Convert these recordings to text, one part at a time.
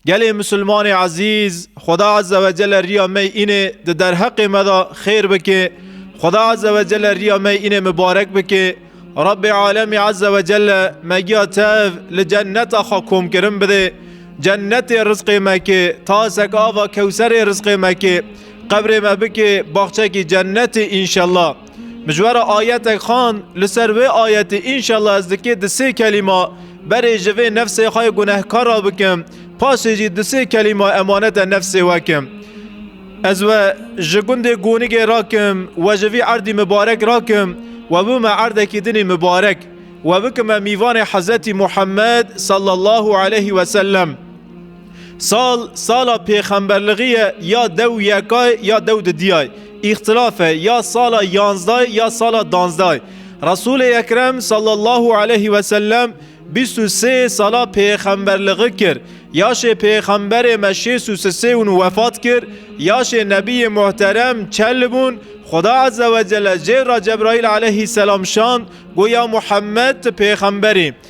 Gelê Musulmanê Ezîz, Xweda Azze ve Celle riya me înê di derheqê me de xêr bike, Xweda Azze ve Celle riya me înê mibarek bike, Rabbê Alemî Azze ve Celle me giya tev li cenneta xwe komkirin bide, cennetê rizqê me ke, tasek ava kewserê rizqê me ke, qebrê me bike baxçekî cennetê înşella. Mijwara ayetek xand li ser wê ayetê înşallah ez dikê di sê kelîma berê ji vê nefsê xwe gunehkara bikim paşê jî di sê kelîma emanete nefsê we kim. Ez we ji gundê Gonigê rakim we ji vî erdî mibarek rakim we bûme erdekî dinê mibarek we bikime mîvanê Hezretî Muhammed sallallahu aleyhî wesellem. Sal sala pêxemberlixî ye ya dew û yekay ya dew di diyay. Îxtilaf e ya sala yanzdayê ya sala danzdayê. Resûlê Ekrem sallallahu aleyhî ve sellem bîst û sê sala pêxemberlixî kir. Yaşê pêxemberê me şêst û sisê û nû wefat kir. Yaşê nebîyê muhterem çel bûn. Xuda ezze wecelle jêr ra Cebraîl aleyhî selam şand, got ya Muhemmed ti pêxemberî.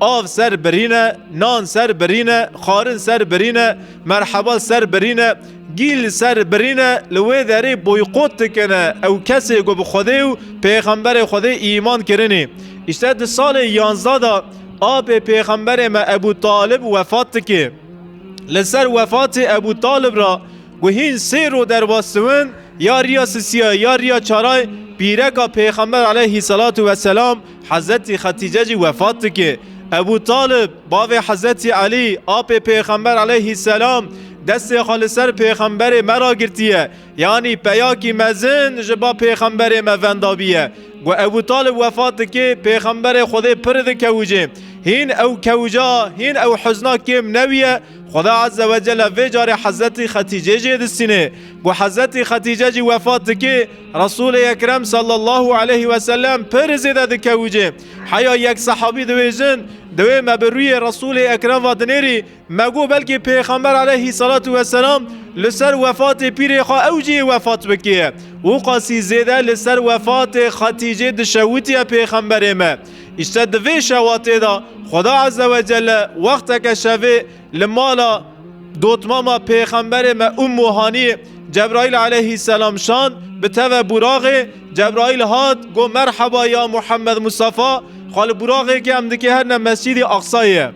Av ser birîne, nan ser birîne, xwarin ser birîne, merheba ser birîne, gîl ser birîne li wê derê boykot dikine ew kesê ku bi Xwedê û Pêxemberê Xwedê îman kirinî. Îşte di salê yanzdeh de apê Pêxemberê me Ebû Talib wefat dike. Li ser wefatê Ebû Talib re ku hîn sê roj derbas diwin ya riya sisiya ya riya çaray pîreka Pêxember aleyhî selatû weselam Hezretî Xetîce jî wefat dike. Ebû Talib, bavê Hezretî Elî, apê pêxember eleyhî selam, destê xwe li ser pêxemberê me re girtiye, yanî peyakî mezin ji ba pêxemberê me vendabiye. Ku Ebû Talib wefat dike, pêxemberê Xwedê pir dikewicê. Hîn ew kewica, hîn ew huzna kêm newiye, Xweda Ezze Wecelle vê carê Hezretî Xetîcê jê distîne. Ku Hezretî Xetîce jî wefat dike, Resulê Ekrem sallallahu aleyhi ve sellem pir zêde dikewicê. Heya yek sahabî diwêjin, Dewê me bi rûyê Resulê Ekrem ve dinêrî, me got belkî Pêxember aleyhi salatu ve selam li ser wefatê pîrê xwe ew jî yê wefat bikê. Û qasî zêde li ser wefatê Xetîcê dişewitiye Pêxemberê me. Îşte di vê şewatê de Xweda Ezzewecelle wexteke şevê Li mala dotmama pêxemberê me Ummu Haniyê Cebraîl aleyhîsselam şand bi teve buraxê, Cebraîl hat got merheba ya Muhammed Mustafa, xwe li buraxêkê em dikiherine Mescîdê Aqsayê ye.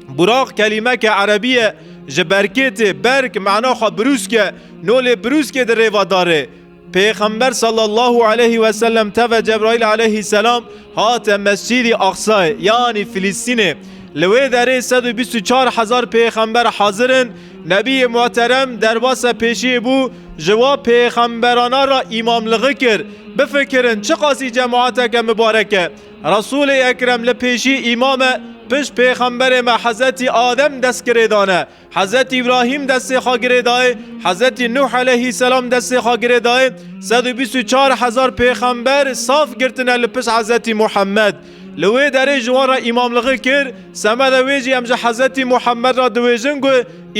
Burax kelîmeke erebî ye ji berkêtê, berk mana xwe birûsk e, no lê birûskê di rêva darê. Pêxember sallallahu aleyhi ve sellem teve Cebraîl aleyhîsselam hate Mescîdî Aqsayê yanî Filîstînê. Li wê derê sed û bîst û çar hezar pêxember hazir in. Nebiyê Muhterem derbase pêşiyê bû ji wa pêxemberana re îmamligi kir. Bifikirin çiqasî cemaeteke mibarek e. Resûlê Ekrem li pêşî îmam e, pişt pêxemberê me Hezretî Adem destgirêdane. Hezretî Îbrahîm destê xwe girê dayê, Hezretî Nuh eleyhî selam destê xwe girê dayê, sed û bîst û çar hezar pêxember saf girtine li pişt Hezretî Muhemmed. Li wê derê ji wan re îmamlixî kir, semeda wê jî em ji Hezretî Muhemmed re diwêjin ku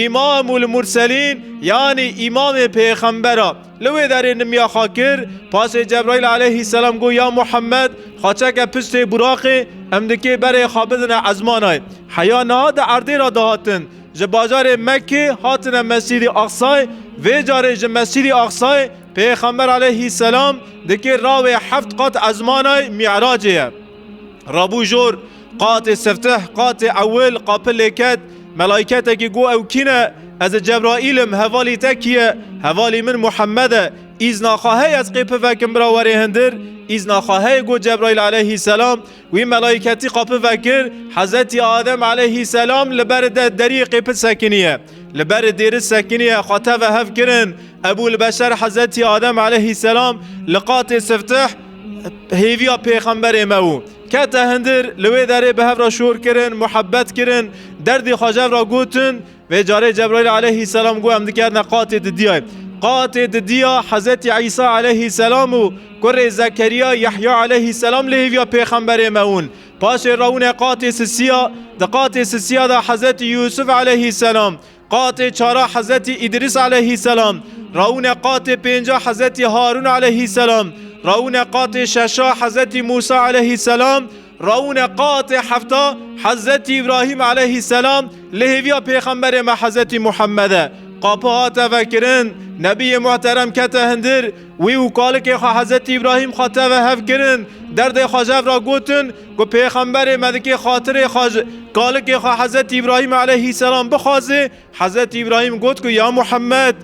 Îmamul Murselîn yanî Îmamê Pêxembera. Li wê derê nimiya xwe kir, paşê Cebraîl aleyhîsselam got, Ya Muhemmed, xaçeke piştê buraqê em dikê berê xwe bidine ezmanayê. Heya niha di erdê re dihatin. Ji bajarê Mekkê hatine Mescîdî Aqsayê, vê carê ji Mescîdî Aqsayê pêxember aleyhîsselam dikê rawê heft qat ezmanayê Mî'racê ye. Rabû jor. Qatê siftih, qatê ewil qapi lêket, melaîketekî got ew kî ne? Ez e Cebraîl im, hevalî te kî ye? Hevalî min Muhemmed e. Îzna xwe heye ez qê pivekim bira werê hindir? Îzna xwe heye got Cebraîl eleyhîsselam. Wî melaîketî qapi vekir, Hezretî Adem eleyhîsselam li beri de deriyê qêpi sekiniye. Li beri dêri sekiniye, xwe teve hev kirin. Ebûlbeşer Hezretî Adem eleyhîsselam li qatê siftih hêviya pêxemberê me û. Kete hindir, li wê derê bi hev re şor kirin, muhebbet kirin, derdê xwe ji hev re gotin. Vê carê Cebraîl aleyhîsselam got em dikerine qatê di diyayê. Qatê di diya Hezretî Îsa aleyhîsselam û kurê Zekerîya Yehya aleyhîsselam li hêviya pêxemberê me ûn. Paşê rawine qatê sisiya. Di qatê sisiya de Hezretî Yûsuf aleyhîsselam, Qatê çara Hezretî Îdrîs aleyhîsselam, rawine qatê pênca Hezretî Harûn aleyhîsselam, rawine qatê şeşa Hezretî Mûsa aleyhîsselam, rawine qatê hefta Hezretî Îbrahîm aleyhîsselam li hêviya pêxemberê me Hezretî Muhemmed e. Qapa hate vekirin, Nebiyê Muhterem kete hindir, Wî û kalikê xwe Hezretî Îbrahîm xwe teve hev kirin, derdê xwe ji hev re gotin ku pêxemberê me dikê xatirê xwe ji kalikê xwe Hezretî Îbrahîm eleyhîsselam bixwaze, Hezretî Îbrahîm got ku ya Muhemmed!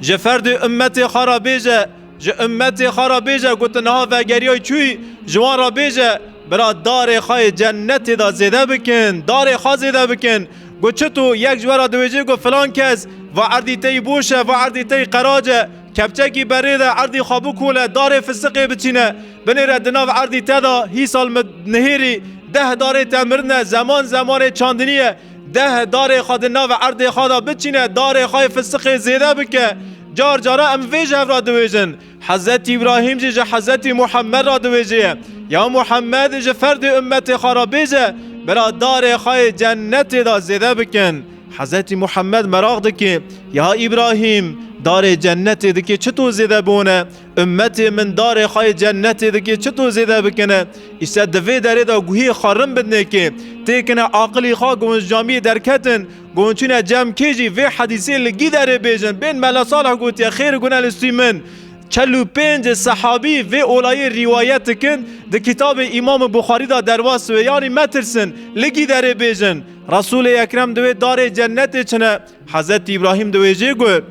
Ji ferdê ummetê xwe re bêje, ji ummetê xwe re bêje ku tu niha vegeriyayî çûyî, ji wan re bêje, Bira darê xwe yê cennetê de zêde bikin, darê xwe zêde bikin. Got çi tu yek ji we re diwêjê ku filan kes va erdî te yî boş e, va erdî te yî qerac e, kepçekî berê de erdî xwe bikole, darê fisiqê biçîne binê re di nav erdî te de hîsal min nihêrî deh darê te mirine, zeman zemanê çandinî ye, deh darê xwe di nav erdê xwe de biçîne, darê xwe yê fisiqê zêde bike. Car caran em vê ji hev re diwêjin. Hezretî Îbrahîm jî ji Hezretî Muhemmed re diwêjeye, Ya Muhemmed ji ferdê ummetê xwe re bêje bira darê xwe yê cennetê de zêde bikin. Hezretî Muhemmed meraq dike, Ya Îbrahîm darê cennetê dike çito zêde bone, ummetê min darê xwe yê cennetê dike çito zêde bikine. Îşte di vê derê de guhê xwe rin bidnekê, têkine aqilî xwe giwinjamiyê derketin, Gonçîne Cemkê jî vê hedîsê li Gîderê bêjin, bên Mela Salih gotiye, Xêr gune li sûî min. Çel û pênc sehabî vê olayê rîwayet dikin, di kitabê Îmam Buxarî de derbas wê, yanî metirsin, li Gîderê bêjin. Resûlê Ekrem di wê darê cennetê çine. Hezretî Îbrahîm di wê jê got,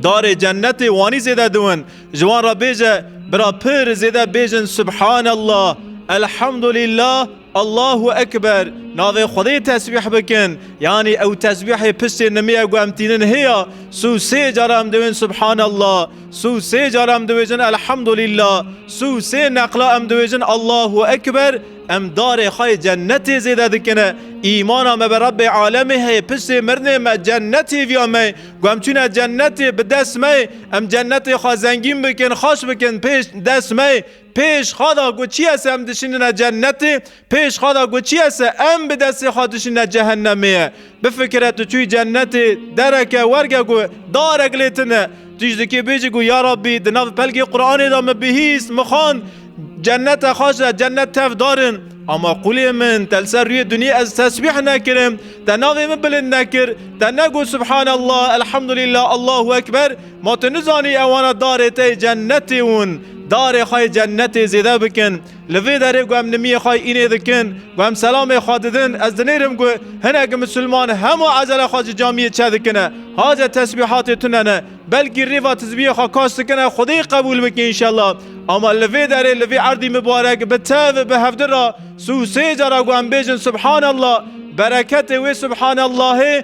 Darê cennetê wanî zêde diwin. Ji wan re bêje, Bira pir zêde bêjin Subhanallah, Elhamdulillah, Allahu Ekber, navê Xwedê tesbîh bikin, yanî ew tesbîhê piştê nimîya ku em tînin hêya, sû sê car em diwên Subhanallah, sû sê car em diwêjin Elhamdulillah, sû sê neqla em diwêjin Allahu Ekber, em darê xwe yê cennetê zêde dikine, îmana me bi Rebbê Alemê heye, piştê mirinê me cennetê viya me ye, ku em çûne cennetê bi dest me ye, em cennetê xwe zengîn bikin, xweş bikin pê dest me ye, Pêş xwe da got çi yese em dişînine cennetê, pêş xwe da got çi yese em bi destê xwe dişînine cehennemê ye. Bifikire tu çûyî cennetê, dereke werge ku darek lê tune, tu jî dikê bêjî ku ya Rabbî di nav pelgê Quranê de min bihîst, min xwend, cennete xweş e, cennet tev dar in. Ama qûlê min te li ser rûyê dinyê ez tesbîh nekirim, te navê min bilind nekir, te negot subhanallah, elhamdulillah, Allahu ekber, Ma tu nizanî ewana darê te yê cennetê ûn darê xwe yê cennetê zêde bikin. Li vê derê ku em nimiyê xwe yê înê dikin, ku em selamê xwe didin, ez dinêrim ku hinek misilman hema ezela xwe ji camiyê çedikine, haze tesbîhatê tune ne, belkî rêva tizbiyê xwe kaş dikine Xwedê qebûl bike înşellah. Ama li vê derê, li vê erdî mibarek bi tev, bi hevdin ra sû sê cara ku em bêjin subhanallah, bereketê wê subhanallahê,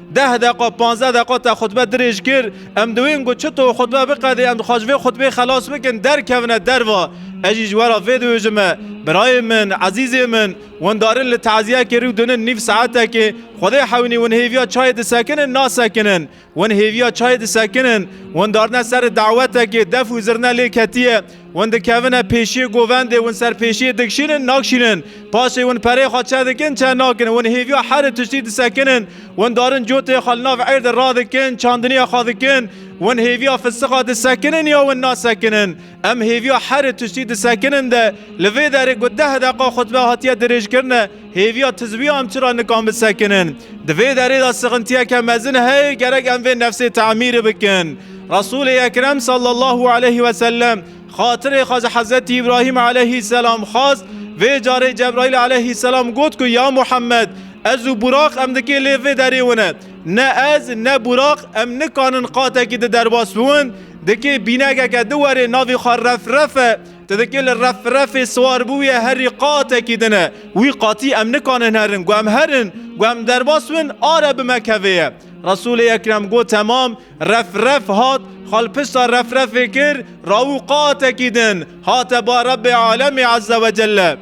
Deh deqa panzdeh deqa te xutbe dirêj kir. Em diwên ku çi to xutbe biqedê em dixwaz ji vê xutbê xelas bikin derkevine derva. Ez jî ji we re vê diêjim me. Birayên min, ezîzên min, windarin li teziyekê rû dinin nîv saetekê. Xwedê hewnî win hêviya çayê disekinin nasekinin. Win hêviya çayê disekinin. Windarine ser dewetekê def û zirne lê ketiye. Win dikevine pêşiyê govendê, win ser pêşiyê dikşînin, nakşînin. Paşê win pereyê xwe çe dikin, çe nakin. Win hêviya herê tiştî disekinin. Win darin coteyê xwe li nav êr de radikin, çandiniyê xwe dikin. Win hêviya fisiqa disekinin ya win nasekinin. Em hêviya herê tiştî disekinin de li vê derê ku deh deqa xutbe hatiye dirêjkirine, Hêviya tizwiya em çira nikan bisekinin? Di vê derê de sixintiyeke mezin heye gerek em vê nefsê temîr bikin. Resûlê Ekrem sallallahu aleyh ve sellem xatirê xwe ji Hezretî Îbrahîm aleyhî selam xwest, vê carê Cebraîl aleyhî selam got ku ya Muhammed ez û Buraq em dikê lê vê derê wine. Ne ez ne Buraq em nikanin qatekî di derbas biwin, dikê bînegeke di werê navê xwe Refrefe, Tedikê li refrefê siwar bûye herî qatekî din e. Wî qatî em nikanin herin. Gu em herin, gu em derbas bin, a re bi me kevê ye. Resûlê Ekrem got temam, refref hat, xalpista refrefê kir, rawû qatekî din, hate ba Rebbê Alemî Ezze ve Celle.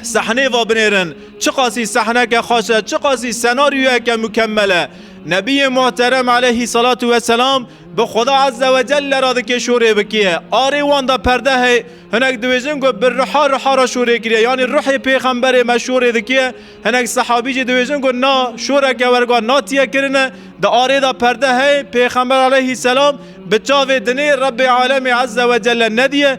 Sehnê va binêrin. Çiqasî sehneke xweş e, çiqasî senaryoyeke mukemmel e. Nebiyê Muhterem Eleyhî Selatû Weselam Bi Xweda Azze ve Celle re dike şorê bikê. Arê wan de perde heye. Hinek dibêjin ku bi ruha ruha re şorê kiriye yanî ruhê pêxemberê me şorê dike. Hinek sehabî jî dibêjin ku na, şoreke werguha natiye kirine. Di arê de perde heye, pêxember aleyhî selam bi çavê dinê Rebbê Alemê Azze ve Celle nediye.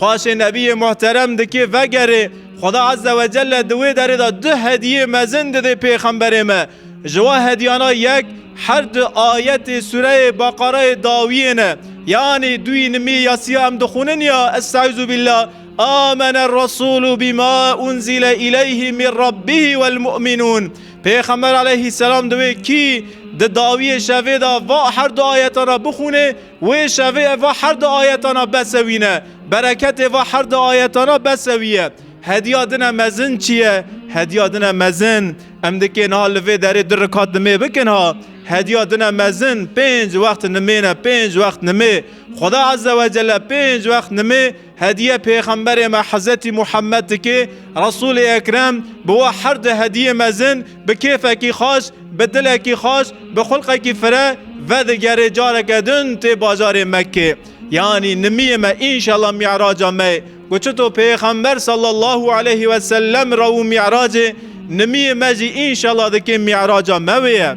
Paşê Nebiyê Muhterem dikê vegerê, Xweda Azze ve Celle di wê derê de du hediyê mezin didê pêxemberê me. Ji wan hediyana yek her du ayetê sureyê Beqereyê dawiyê ne. Yanî duyî nimî ya sî ya em dixwînin ya, Est'eûzûbîllâ, Âmenerresûlû bîmâ unzîle îleyhî mî Rabbihî welmû'minûn. Pêxember Eleyhîsselam di wê kî di dawiyê şevê de va her du ayetan re bixwînê, Wê şevê ev va her du ayetana besewîne, bereketê va her du ayetana besewîye. Hediya din e mezin çi ye? Hediya din e mezin, em dikê niha li vê derê du rikat nimê bikin ha. Hediya din e mezin, pênc wext nimê ne, pênc wext nimê. Xweda Ezzewecelle pênc wext nimê, Hediye pêxemberê me Hezretî Muhammed dike, Resûlê Ekrem bi we her di hediyê mezin, bi kêfekî xweş, bi dilekî xweş, bi xulqekî fire vedigere careke din tê bajarê Mekkê. Yanî nimiyê me înşela mî'raca me ye. Ku çito pêxember sallallahu aleyhi ve sellem re û mî'racê, nimiyê me jî înşela dikê mî'raca me wê ye.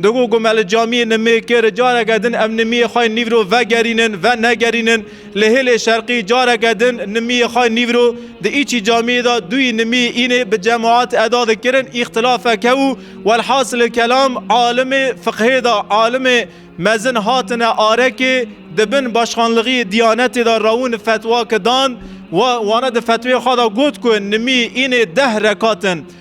Digo ku me li camiyê nimê kir careke din em nimiyê xwe nîvro vegerînin, venegerînin. Li hêlê şerqî careke din nimiyê xwe nîvro di îçî camiyê de duyî nimiyê înê bi cemaat eda dikirin îxtilafek hebû. Welhasilê kelam alimê fiqhê de alimê mezin hatine arekê di bin başxanlixiyê Diyanetê de rewin fetwa ki dan. Wana di fetweyê xwe de got ku nimiyê înê deh rekat in.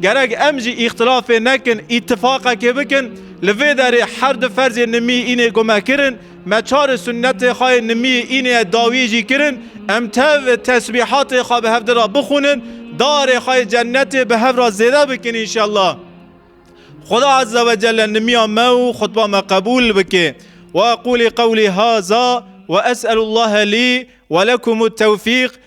Gerek em jî îxtilafê nekin, îtîfaqekê bikin. Li vê derê her du ferzê nimî înê ku me kirin, me çarê sunnetê xwe yê nimî înê ye dawî jî kirin. Em tev tesbîhatê xwe bi hevdî re bixwînin, darê xwe yê cenetê bi hev re zêde bikin înşellah. Xuda Azze ve Celle nimiya me û xutba me qebûl bike. Weqûlî qewlî haza, wees'elûllâhe lî we lekumût-tewfîq.